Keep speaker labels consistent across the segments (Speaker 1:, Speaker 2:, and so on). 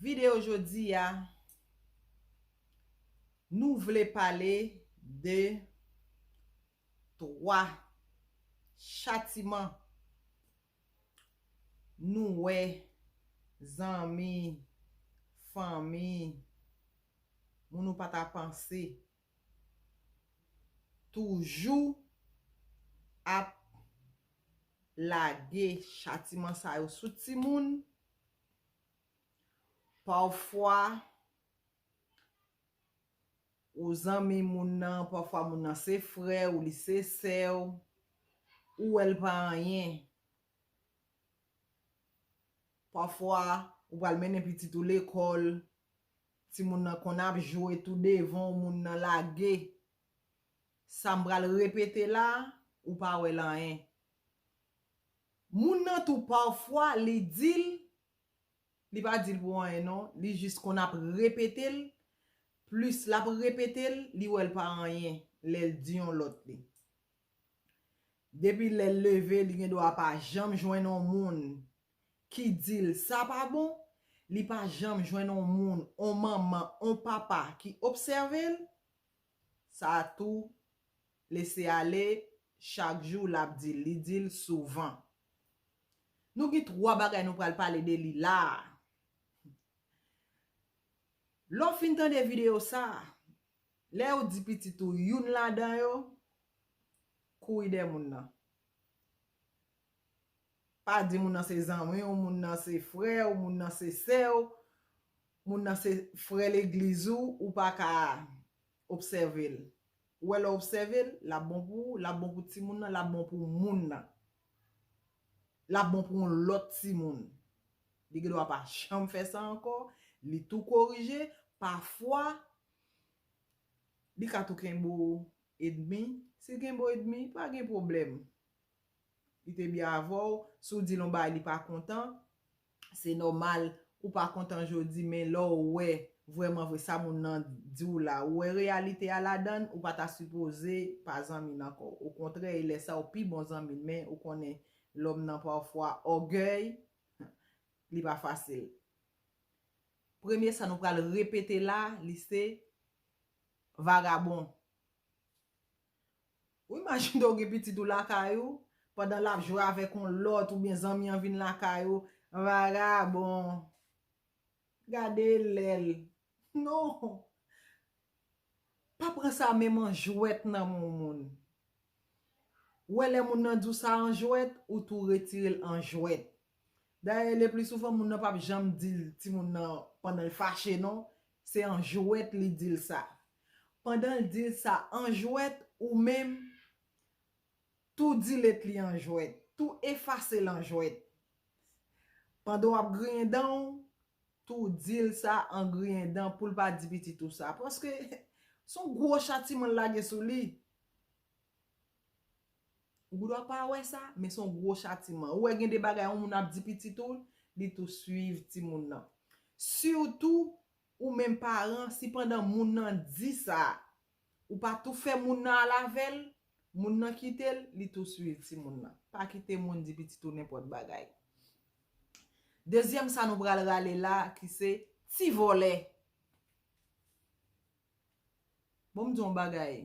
Speaker 1: Video jodi a Nou vle pale de 3 chatiman Nou wè zanmi fanmi Moun ou pa ta panse toujou ap lage chatiman sa yo sou timoun. Pafwa ou zanmi moun nan, pafwa moun nan se frè ou, li se sè ou, ou wè l pa anyen. Pafwa ou pral mennen pitit ou lekòl, timoun nan konn ap jwe tou devan w, moun nan lage. Sa m pral repete la a, ou pa wè l anyen. Moun nan tou pafwa li dil, li pa dil pou anyen non, li jis konn ap repetel, plis lap repetel, li wèl pa anyen lèl di yon lòt li. Depi lèl leve li gendwa pa janm jwenn on moun ki dil sa pa bon, li pa janm jwenn on moun, on manman, on papa ki obsèvel, sa tou lese ale chak jou lap dil li dil souvan nou gen 3 bagay nou pral pale de li la lèw fin tande video sa lèw di pitit ou youn ladan yo kouri dèyè moun nan Pa di moun nan se zanmi w, moun nan se frè w, moun nan se sè w, moun nan se frè legliz ou, ou pa ka obsève l. Ou wè lè w obsève l, l ap bon pou ou, l ap bon pou timoun nan, l ap bon pou moun nan. L ap bon pou yon lòt timoun. Li gen dwa pa janm fè sa ankò, li tou korije, pafwa li ka tou kenbe w edmi. Si l kenbe w edmi, pa gen pwoblèm. Li te byen avè w, si w di l on bagay li pa kontan, se nòmal ou pa kontan jodi men lè w wè vrèman vre sa moun nan di w la, ou wè reyalite a ladan l, ou pa ta sipoze pa zanmi l ankò. Okontrè e lè sa ou pi bon zanmi l men ou konnen lòm nan pafwa ògèy li pa fasil. Premye sa nou pral repete la li se vagabon. Ou imajine ou gen pitit ou lakay ou, pandan lap jwe avèk yon lòt oubyen zanmi an vin lakay ou, vagabon, gade lèl. Non! Pa pran sa menm an jwèt nan men yon moun. Ou wè lè moun nan di w sa an jwèt, ou tou retire l an jwèt. Dayè le pli souvan moun nan pap janm di l timoun nan pandan l fache non, Se an jwèt li di l sa. Pandan l di l sa an jwèt, ou menm, tou dilete li an jwèt, tou efase l an jwèt. Pandan w ap griyen dan w, tou di l sa an griyen dan pou l pa di pitit ou sa. Paske, s on gwo chatiman l lage sou li. Ou gendwa pa wè sa, men son gwo chatiman. Ou wè gen de bagay yon moun ap di pitit ou, li tou swiv timoun nan. Sitou, ou menm paran, si pandan moun nan di sa, ou pa tou fè moun nan al avè l, moun nan kite l, li tou swiv timoun nan. Pa kite moun di pitit ou nenpòt bagay. Dezyèm sa nou pral rale la ki se ti vòlè. Bon m di yon bagay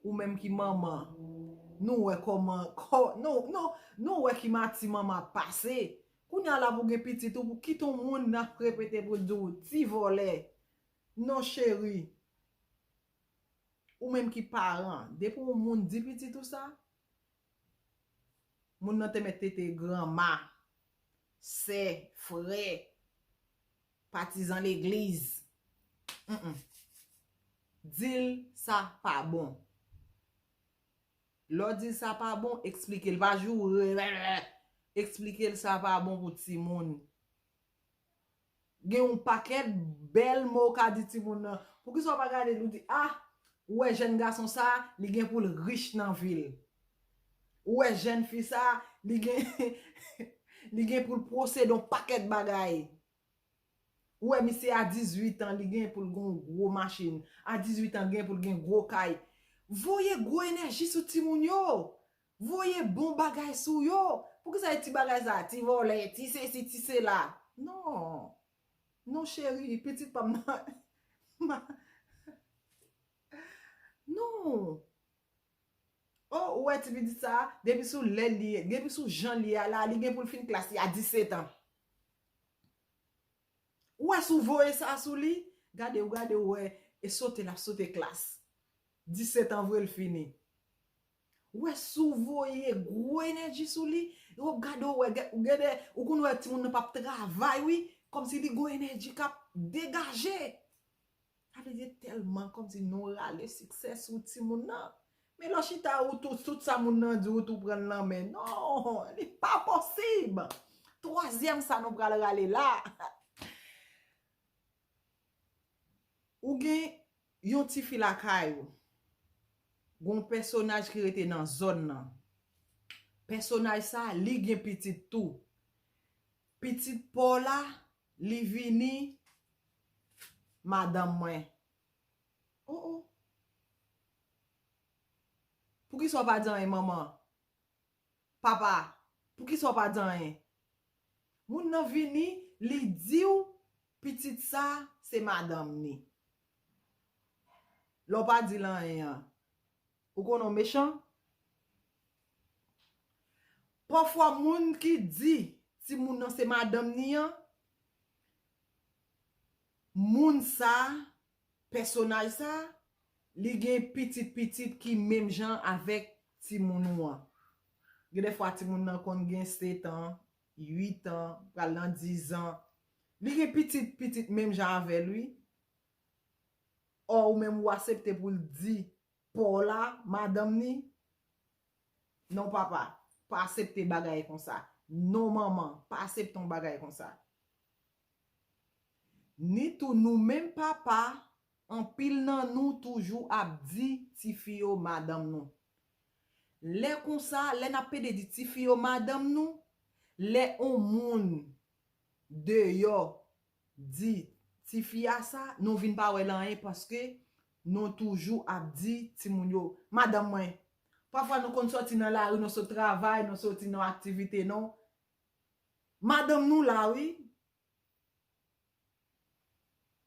Speaker 1: ou menm ki manman nou wè kòman nou wè ki mati manman ap pase kounye a la pou gen pitit ou pou kit yon moun nan ap repete pou l di w ti vòlè non cheri ou menm ki paran depi yon moun di pitit ou sa Moun nan te mèt tete granma, sè, frè, patizan legliz. Humm. Di l sa pa bon. Lè w di l sa pa bon, eksplike l. Pa joure. Eksplike l sa pa bon pou timoun. Gen yon pakèt bèl mo ou ka di timoun nan. Poukisa ou pa gade li ou di, ah! Ou wè jèn gason sa a, li gen pou l rich nan vi l. Ou wè jèn fi sa a, li gen li gen pou l pwosede yon pakèt bagay. Ou wè misye a 18 an, li gen pou l gen yon gwo machin. A 18 an, li gen pou l gen gwo kay. Voye gwo enèji sou timoun yo! Voye bon bagay sou yo. Poukisa e ti bagay sa, ti vòlè, ti sesi, ti sela. Non. Non cheri, pitit pa m nan. Ma. Non. Oh, ou wè ti pitit sa, depi sou lè li, depi sou jan li ye a la, li gen pou l fin klas li a 17 an. Ou wè si w voye sa sou li, gade ou gade ou wè, e sote l ap sote klas. 17 an vre l fini. Wè si w voye gwo enèji sou li, ou ap gade ou wè gen, ou gen de, ou konn wè timoun nan pa ap travay wi, kòmsi li gon enèji k ap degaje. Sa vle di e tèlman kòmsi nou rale siksè sou timoun nan. Men lè w chita ou tou, tout sa moun nan di ou tou pran l nan men. Non, li pa posib! Twazyèm sa nou pral rale la, Ou gen Yon tifi lakay ou Gon pèsonaj ki rete nan zòn nan pèsonaj sa li gen pitit tou pitit paw la li vini madanm mwen oh oh poukisa ou pa di anyen manman Papa, poukisa w pa di anyen? Moun nan vini, li di w pitit sa a se madanm ni. Lè w pa di l anyen an, ou konnen w mechan? Pafwa moun ki di timoun nan se madanm ni an, moun sa a Pèsonaj sa li gen pitit pitit ki menm jan avèk timoun ou an. Gen de fwa timoun nan konn gen 7 an, 8 an, pral nan 10 an. Li gen pitit pitit menm jan avèl wi. Or ou menm ou asepte pou l di paw la, madanm ni. Non papa, pa asepte bagay konsa. Non manman, pa asepte yon bagay konsa. Ni tou nou menm papa, anpil nan nou toujou ap di tifi yo madanm nou. Lè konsa, lè n ap pede di tifi yo madanm nou, lè on moun deyò di tifi a sa, nou vin pa wè l anyen paske nou toujou ap di timoun yo madanm mwen. Pafwa nou konn sòti nan lari, nou sot travay, nou soti nan aktivite nou, Madanm nou la wi.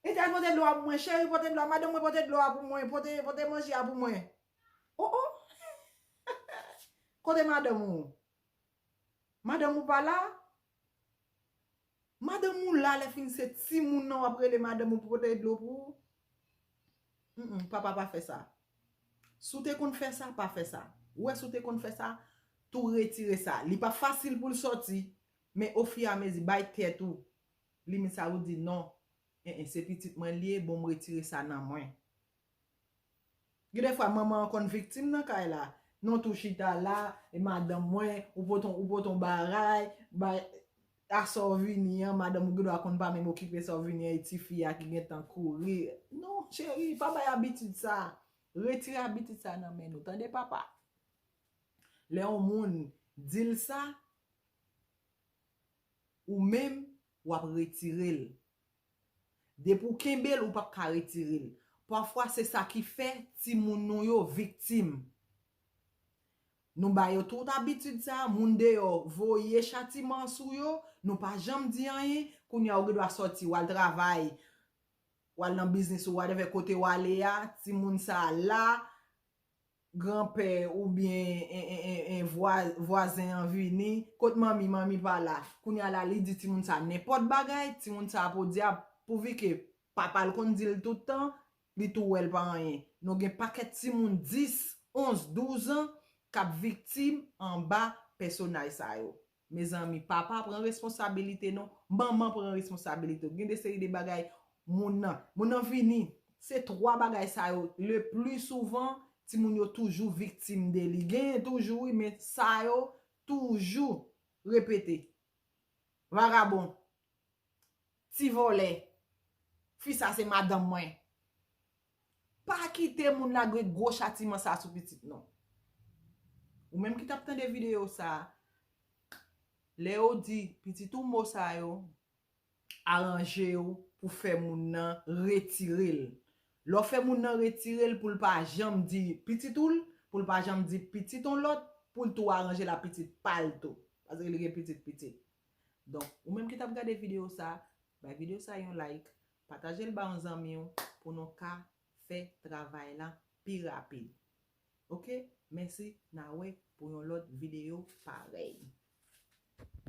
Speaker 1: Ethan pote dlo a pou mwen cheri pote dlo a madanm mwen pote dlo a pou mwen pote pote manje a pou mwen oh oh kote madanm ou madanm ou pa la madanm ou la lè fin se timoun nan wap rele madanm ou pou pote dlo pou ou. Papa pa fè sa. Si w te konn fè sa, pa fè sa. Ou wè si w te konn fè sa, tou retire sa. Li pa fasil pou l sòti, men ofiyamezi, bay tèt ou limit sa ou di non. En, se pitit mwen li ye, bon m retire sa nan mwen. Gen de fwa manman an konn viktim nan kay la. Non tou chita la, e madanm mwen, ou pote yon baray, bay. A sa w vini an, madanm ou gendwa konn pa menm okipe sa w vini an e ti fi a ki gentan kouri. Non cheri, pa bay abitid sa. Retire abitid sa nan men nou. Tande papa. Lè yon moun di l sa, ou menm w ap retire l. Depi ou kenbe l, ou pap ka retire l. Pafwa se sa ki fè timoun nou yo viktim. Nou ba yo tout abitid sa, moun deyò voye chatiman an sou yo, nou pa janm di anyen, kounye a ou gen dwa sòti wal travay, wal nan biznis ou whatever kote ou ale a, timoun sa la, granpè oubyen vwazen an vini, kot manmi, manmi pa la, kounye a la li di timoun sa nenpòt bagay, timoun sa podyab pouvi ke papa l konn di l tout tan, Li tou wè l pa anyen. Nou gen pakèt timoun 10, 11, 12 an k ap viktim anba pèsonaj sa yo. Mezanmi, papa pran responsabilite nou, manman pran responsabilite w. Gen de seri de bagay moun nan, moun nan vini, se 3 bagay sa yo le pli souvan timoun yo toujou viktim de li. Genyen toujou wi men sa yo toujou repete. Vagabon. Ti vòlè. Fi sa se madanm mwen. Pa kite moun lagre gwo chatiman sa sou pitit non. Ou menm ki tap tande video sa. Lè yo di pitit ou mo sa yo. Aranje ou pou fè moun nan retire l. Lè ou fè moun nan retire l pou l pa janm di pitit ou l. Pou l pa janm di pitit on lòt. Pou l tou aranje l a pitit pa l tou. Paske li gen pitit pitit. Donk, ou menm ki tap gade video sa, bay video sa yon like, pataje l ba yon zanmi w pou nou ka fè travay lan pi rapid. Ok, mèsi, na wè pou yon lòt video parèy.